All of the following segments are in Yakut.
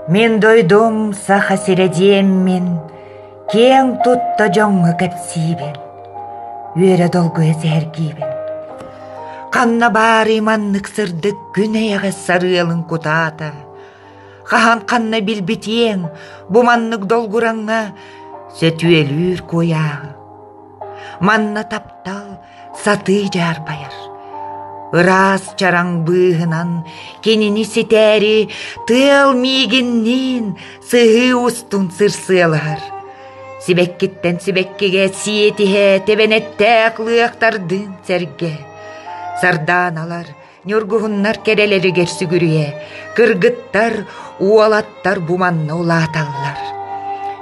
Мин дойдум Саха сирэ диэммин киэҥ тутта дьоҥҥо кэпсиибин, үөрэ долгуйа сэһэргиибин. Ханна баарый маннык сырдык күн эйэҕэс сарыалын кутаата? Хаһан ханна билбитиэҥ бу маннык долгураҥҥа сөтүөлүүр куйааҕы? Манна таптал сатыы дьаарбайар. Ыраас чараҥ быыһынан кинини ситээри тыал миигинниин сыһыы устун сырсыалаһар. Сибэккиттэн сибэккигэ сиэтиһэ тэбэнэттээх лыахтардыын сэргэ. Сардааналар Ньургуһуннар кэрэлэригэр сүгүрүйэ, кыргыттар, уолаттар бу манна улааталлар.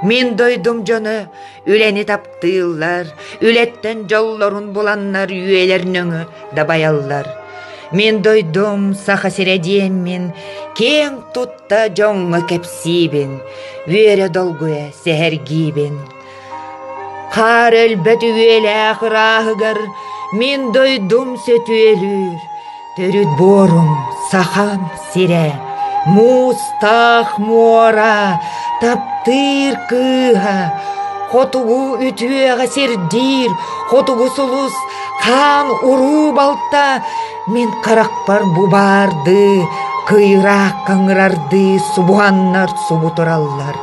Мин дойдум дьоно үлэни таптыыллар, үлэттэн дьоллорун буланнар үөлэр-нөҥө дабайаллар. Мин дойдум Саха сирэ диэммин, киэҥ тутта дьоҥҥо кэпсиибин, үөрэ долгуйа сэһэргиибин. Хаар өлбөт үһүөлээх ырааһыгар мин дойдум сөтүөлүүр төрүт буорум Сахам сирэ муустаах муора таптыыр кыыһа хотугу үтүөҕэ сирдиир хотугу сулус хаан-уруу балта мин харахпар бу баардыы кыйыраак кыҥырардыы субуһаннар субу тураллар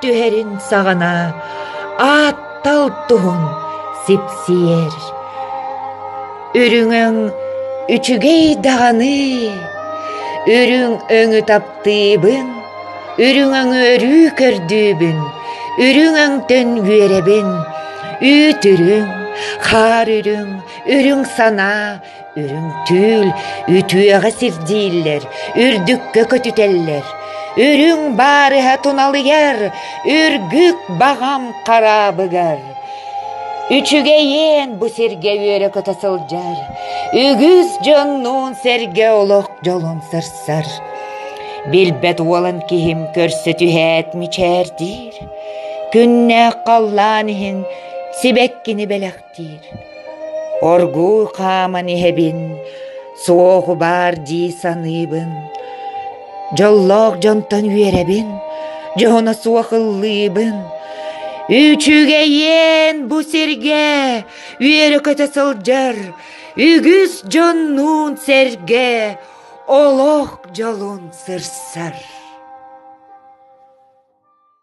түһэрин саҕана ааттал туһун сипсийэр үрүҥүҥ үчүгэй даҕаны үрүҥ өҥү таптыыбын үрүҥүҥү өрүү көрдүүбүн үрүҥүҥ төн үөрэбин үүт үрүҥ хаар үрүҥ үрүҥ санаа Үрүҥкүүл үтүөҕэ сирдииллэр, үрдүккэ көтүтэллэр. Үрүҥ баарыһа туналыйар, үргүк баҕам хараабыгар. Үчүгэйиэн бу сиргэ үөрэ-көтө сылдьар, үгүс дьоннуун сэргэ олох дьолун сарсар. Билбэт уолан киһим көрсө түһээт мичээрдиир. Күннээх халлаан иһин сибэккини бэлэхтиир. диир оргууй хааман иһэбин суоху баар дии саныыбын дьоллоох дьонтон үөрэбин дьоһуна суох ыллыыбын үчүгэйиэн бу сиргэ үөрэ-көтө сылдьар үгүс дьоннуун сэргэ олох дьолун сырсар